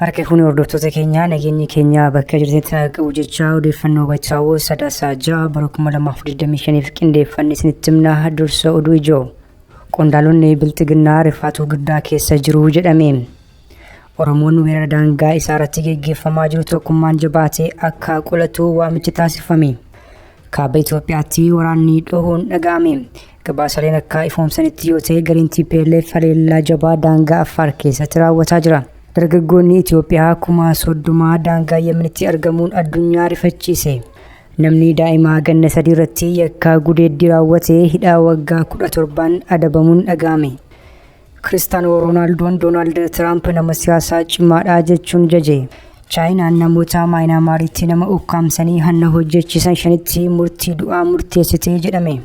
Harka fuunee hordoftoota keenyaa nageenyi keenya bakka jirtetti haa qabu jechaa odeeffannoo bachaawoo sadaasaa ja'a bara 2025f qindeeffanne isinitti himnaa dursa oduu ijoo. Qondaalonni bilxiginnaa rifaatuu guddaa keessa jiru jedhame. Oromoon weerara daangaa isaa irratti geggeeffamaa jiru tokkummaan jabaatee akka qolatu waamichi taasifame. Kaaba Itoophiyaatti waraanni dhohuun dhaga'ame. Gabaasaleen akka ifoomsanitti yoo ta'e gariin TPLF haleellaa jabaa daangaa Affaar keessatti raawwataa jira. Dargaggoonni Itoophiyaa kuma soddomaa daangaa Yemenitti argamuun addunyaa rifachiise. Namni daa'imaa ganna sadii irratti yakkaa gudeeddii raawwate hidhaa waggaa kudha torbaan adabamuun dhaga'ame. Kiristaanoo Roonaaldoon Doonaald Tiraamp nama siyaasaa cimaadha jechuun jaje. Chaayinaan namoota Maayinaamaaritti nama ukkaamsanii hanna hojjechiisan shanitti murtii du'aa murteessitee jedhame.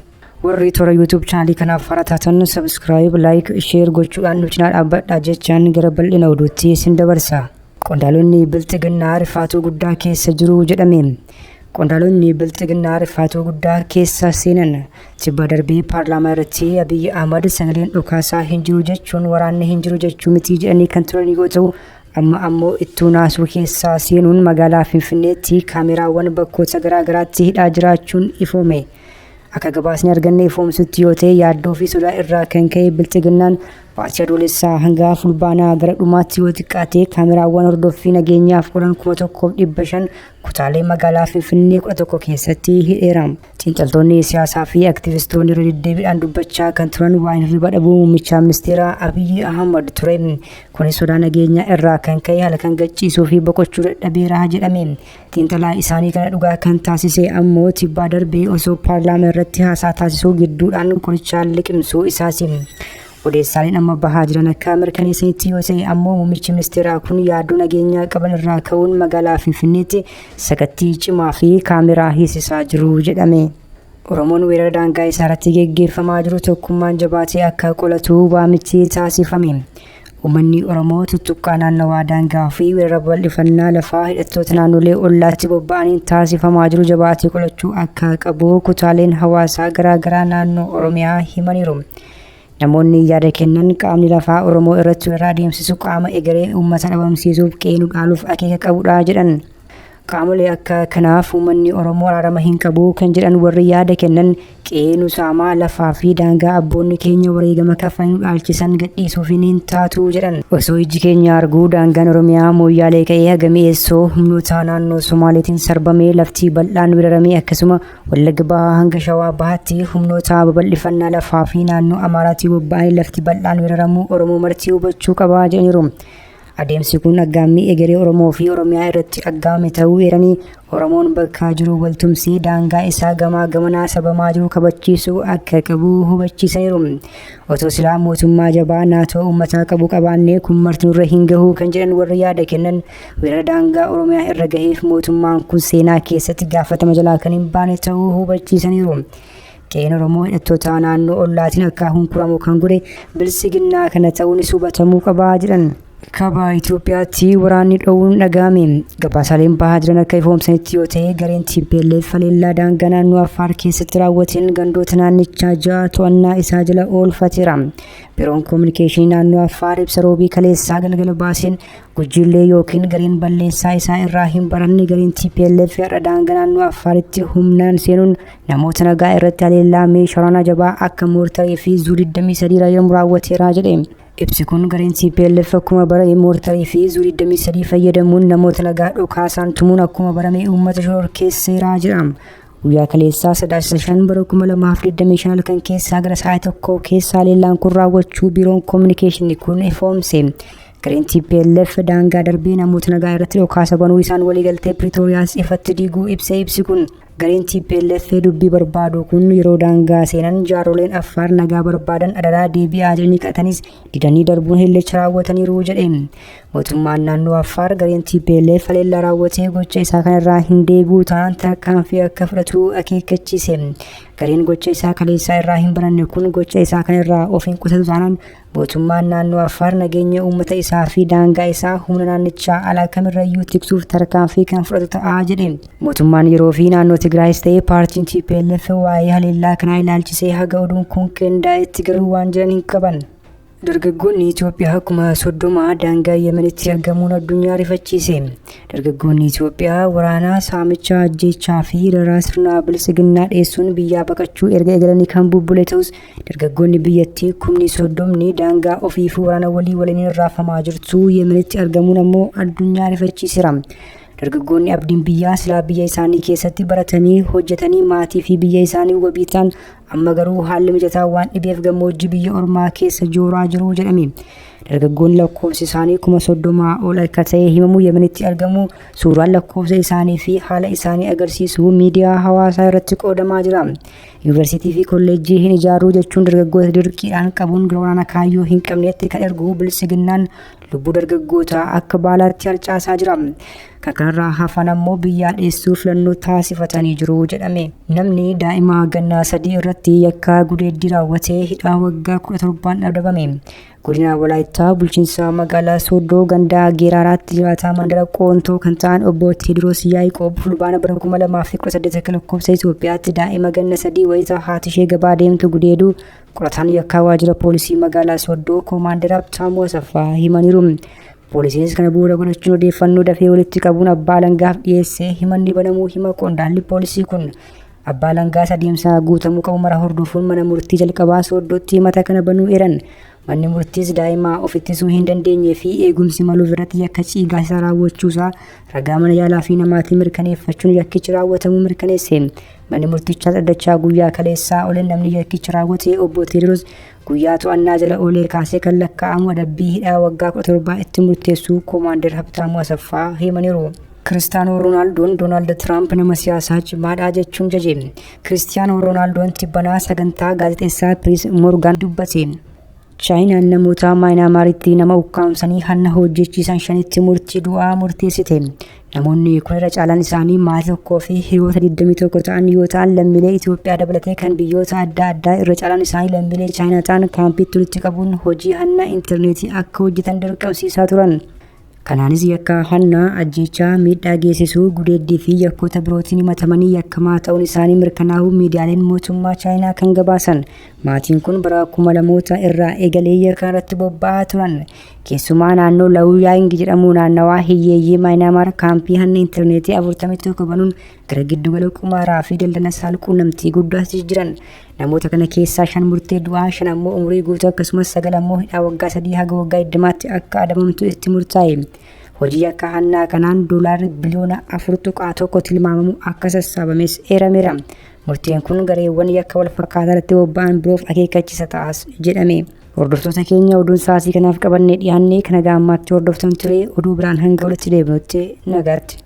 Warri toora YouTube chaanalii kanaaf haaraa taatan sabiskiraayib, laayik, sheer gochuudhaan nu cinaa dhaabbadhaa jechaan gara bal'ina oduutti isin dabarsa. Qondaalonni Bilxiginnaa rifaatuu guddaa keessa jiru jedhame. Qondaalonni bilxiginnaa rifaatuu guddaa keessa seenan tibba darbee paarlaamaa irratti Abiyyi Ahmad sagaleen dhukaasaa hin jiru jechuun waraanni hin jiru jechuu mitii jedhanii kan turan yoo ta'u amma ammoo ittuu naasuu keessaa seenuun magaalaa Finfinneetti kaameraawwan bakkoota garaagaraatti hidhaa jiraachuun ifoome. Akka gabaasni arganne ifoomsutti yoo ta'e yaaddoo fi sodaa irraa kan ka'e bilxiginnaan baatii adoolessaa hanga fulbaanaa gara dhumaatti yoo xiqqaate kaameraawwan hordoffii nageenyaaf oolan kuma tokkoof dhibba shan Kutaalee magaalaa Finfinnee 11 keessatti hidheera. Xiinxaltoonni siyaasaa fi aktivistoonni irra deddeebiidhaan dubbachaa kan turan waan hirriba dhabuu muummicha ministeeraa Abiyyi Ahmad ture. Kunis sodaa nageenyaa irraa kan ka'e halkan gachiisuu fi boqochuu dadhabeera jedhame. Xiinxalaa isaanii kana dhugaa kan taasise ammoo tibbaa darbee osoo paarlaamaa irratti haasaa taasisuu gidduudhaan qorichaan liqimsuu isaati. Odeessaaleen amma bahaa jiran akka mirkaneessanitti yoo ta'e ammoo muummichi ministeeraa kun yaaddoo nageenyaa qaban irraa ka'uun magaalaa Finfinneetti sakattii cimaa fi kaameraa hiisisaa jiru jedhame. Oromoon weerara daangaa isaa irratti geggeeffamaa jiru tokkummaan jabaatee akka qolatu waamichi taasifame. Uummanni Oromoo tuttuqqaa naannawaa daangaa fi weerara bal'ifannaa lafaa hidhattoota naannolee ollaatti bobba'aniin taasifamaa jiru jabaatee qolachuu akka qabu kutaaleen hawaasaa garaagaraa naannoo Oromiyaa himaniiru. Namoonni yaada kennan qaamni lafaa Oromoo irratti weerara adeemsisu qaama egeree uummata dhabamsiisuuf qeenu dhaaluuf akeeka qabudha jedhan. Qaamolee akka kanaaf uummanni Oromoo araarama hin qabu kan jedhan warri yaada kennan qeenu saamaa lafaa fi daangaa abboonni keenya wareegama kaffalanii dhaalchisan gadhiisuuf hin taatu jedhan. Osoo ijji keenya arguu daangaan Oromiyaa mooyyaalee ka'ee haga mi'eessoo humnoota naannoo Somaaleetiin sarbamee laftii bal'aan weeraramee akkasuma Wallagga Bahaa hanga Shawaa Bahaatti humnoota babal'ifannaa lafaa fi naannoo Amaaraatii bobba'anii lafti bal'aan weeraramuu Oromoo marti hubachuu qaba jedhaniiru. Adeemsi kun aggaammii egeree Oromoo fi Oromiyaa irratti aggaamame ta'uu eeranii Oromoon bakka jiru waltumsee daangaa isaa gamaa gamanaa sabamaa jiru kabachiisuu akka qabu hubachiisaniiru. Otoo silaa mootummaa jabaa naatoo uummataa qabu qabaannee kun marti nurra hin gahuu kan jedhan warri yaada kennan Weerara daangaa Oromiyaa irra gaheef mootummaan kun seenaa keessatti gaafatama jalaa kan hin baane ta'uu hubachiisaniiru. Qe'een Oromoo hidhattoota naannoo ollaatiin akka hunkuramu kan godhe bilisiginnaa kana ta'uunis hubatamuu qabaa jedhan. Kaabaa Itoophiyaatti waraanni dhoowwuun dhaga'ame. Gabaasaaleen bahaa jiran akka ifoomsanitti yoo ta'e gareen TPLF haleellaa daangaa naannoo Affaar keessatti raawwateen gandoota naannichaa ja'a to'annaa isaa jala oolfateera. Biroon Koominikeeshinii naannoo Affaar ibsa roobii kaleessaa galgala baaseen Gujiillee yookiin gareen balleessaa isaa irraa hin baranne gareen TPLF har'a daangaa naannoo Affaaritti humnaan seenuun namoota nagaa irratti haleellaa meeshaa waraanaa jabaa akka moortarii fi zuu 23 raayyamu raawwateera jedhe. Ibsi kun gareen TPLF akkuma barame moortarii fi zuu 23 fayyadamuun namoota nagaa dhukaasaan tumuun akkuma barame uummata shororkeesseera jedha. Guyyaa kaleessaa sadaasa shan bara 2025 halkan keessaa gara sa'aatii tokko keessaa haleellaan kun raawwachuu biiroon koominikeeshinii kun ifoomse. Gareen TPLF daangaa darbee namoota nagaa irratti dhukaasa banuu isaan waliigaltee Piriitooriyaas ifatti diiguu ibsee ibsi kun gareen TPLF dubbii barbaadu kun yeroo daangaa seenan jaaroleen Affaar nagaa barbaadan adaraa deebi'aa jedhanii qatanis didanii darbuun hilleecha raawwataniiru jedhe. Mootummaan naannoo Affaar gareen TPLF haleellaa raawwatee gocha isaa kanarraa hin deebi'u ta'an tarkaanfii akka fudhatu akeekkachiise. Gareen gocha isaa kaleessaa irraa hin baranne kun gocha isaa kanarraa of hin qusatu taanaan Mootummaan naannoo Affaar nageenya uummata isaa fi daangaa isaa humna naannichaa alaa kamirrayyuu tiksuuf tarkaanfii kan fudhatu ta'a jedhe. Mootummaan yeroo fi naannoo Tigraayis ta'ee paartiin TPLF waa'ee haleellaa kanaa ilaalchisee haga oduun kun qindaa'etti garuu waan jiran hin qaban. Dargaggoonni Itoophiyaa kuma soddoma daangaa Yemenitti argamuun addunyaa rifachiise. Dargaggoonni Itoophiyaa waraanaa saamichaa ajjeechaa fi dararaa sirnaa bilisiginnaa dheessuun biyyaa baqachuu erga eegalanii kan bubbule ta'us Dargaggoonni biyyattii kumni soddomni daangaa ofii fi waraana walii waliin raafamaa jirtu Yemenitti argamuun ammoo addunyaa rifachiisera. Dargaggoonni abdiin biyyaa silaa biyya isaanii keessatti baratanii hojjetanii maatii fi biyya isaanii wabii ta'an amma garuu haalli mijataa waan dhibeef gammoojjii biyya ormaa keessa jooraa jiru jedhame. Dargaggoonni lakkoofsi isaanii kuma soddomaa ol akka ta'e himamu Yemenitti argamu suuraan lakkoofsa isaanii fi haala isaanii agarsiisu miidiyaa hawaasaa irratti qoodamaa jira. Yuunivarsiitii fi kolleejjii hin ijaaruu jechuun dargaggoota dirqiidhaan qabuun gara waraana kaayyoo hin qabneetti kan ergu bilisiginnaan lubbuu dargaggootaa akka baalaatti harcaasaa jira. Kan kanarraa hafan ammoo biyyaa dheessuu filannoo taasifatanii jiru jedhame. Namni daa'ima gannaa sadii irratti yakkaa gudeeddii raawwatee hidhaa waggaa kudha torbaan dhabdabame. Godina Walaayittaa bulchiinsa magaalaa Sooddoo gandaa Geeraaraatti jiraataa mandara Qoontoo kan ta'an obbo Teediroos Yaa'iqoob fulbaana bara 2018 akka lakkoofsa Itoophiyaatti daa'ima ganna sadii wayita haati ishee gabaa deemtu gudeeduu qorataan yakkaa waajjira poolisii magaalaa Sooddoo koomaandar Abtaamuu Asaffaa himaniiru. Poolisiinis kana bu'uura godhachuun odeeffannoo dafee walitti qabuun abbaa alangaaf dhiyeessee himanni banamuu hima qondaalli poolisii kun Abbaa Alangaas adeemsa guutamuu qabu mara hordofuun mana murtii jalqabaa sooddootti himata kana banuu eran. Manni murtiis daa'ima of ittisuu hin dandeenyee fi eegumsi maluuf irratti yakka ciigaasisaa raawwachuusaa ragaa mana yaalaa fi namaatiin mirkaneeffachuun yakkichi raawwatamuu mirkaneesse. Manni murtichaas dhaddachaa guyyaa kaleessaa oleen namni yakkicha raawwate obbo Teediroos guyyaa to'annaa jala oolee kaasee kan lakkaa'amu adabbii hidhaa waggaa 17 itti murteessuu Koomaandar Habtaamuu Asaffaa himaniiru. Kiristaanoo Roonaaldoon Doonaald Tiraamp nama siyaasaa cimaadha jechuun jaje. Kiristiyaanoo Roonaaldoon tibbanaa sagantaa gaazexeessaa Piris Morgan dubbate. Chaayinaan namoota Maayinaamaaritti nama ukkaamsanii hanna hojjechiisan shanitti murtii du'aa murteessite. Namoonni kun irra caalaan isaanii maatii tokkoo fi hiriyoota 21 ta'an yoo ta'an lammiilee Itoophiyaa dabalatee kan biyyoota adda addaa irra caalaan isaanii lammiilee Chaayinaa ta'an kaampiitti walitti qabuun hojii hanna intarneetii akka hojjetan dirqamsiisaa turan. Kanaanis yakka hannaa, ajjeechaa, miidhaa geessisuu, gudeeddii fi yakkoota birootiin himatamanii yakkamaa ta'uun isaanii mirkanaa'uu miidiyaaleen mootummaa Chaayinaa kan gabaasan maatiin kun bara kuma lamoota irraa eegalee yakka irratti bobba'aa turan. Keessumaa naannoo Laawuyaang jedhamu naannawaa hiyyeeyyii Maayinaamaar kaampii hanna intarneetii 41 banuun gara giddugala qumaaraa fi daldala saalquunnamtii guddaatti jijjiiran namoota kana keessaa shan murtee du'aa shan ammoo umurii guutuu akkasumas sagal ammoo hidhaa waggaa sadii haga waggaa digdamaatti akka adabamtu itti murtaa'e hojii akka hannaa kanaan doolaarri biliyoona afur tuqaa tokko tilmaamamu akka sassaabames eerameera murteen kun gareewwan yakka wal fakkaataa irratti bobba'an biroof akeekkachiisa ta'as jedhame. Hordoftoota keenya oduun sa'aatii kanaaf qabannee dhiyaannee kan haga ammaatti hordoftan ture oduu biraan hanga walitti deebinutti nagaatti.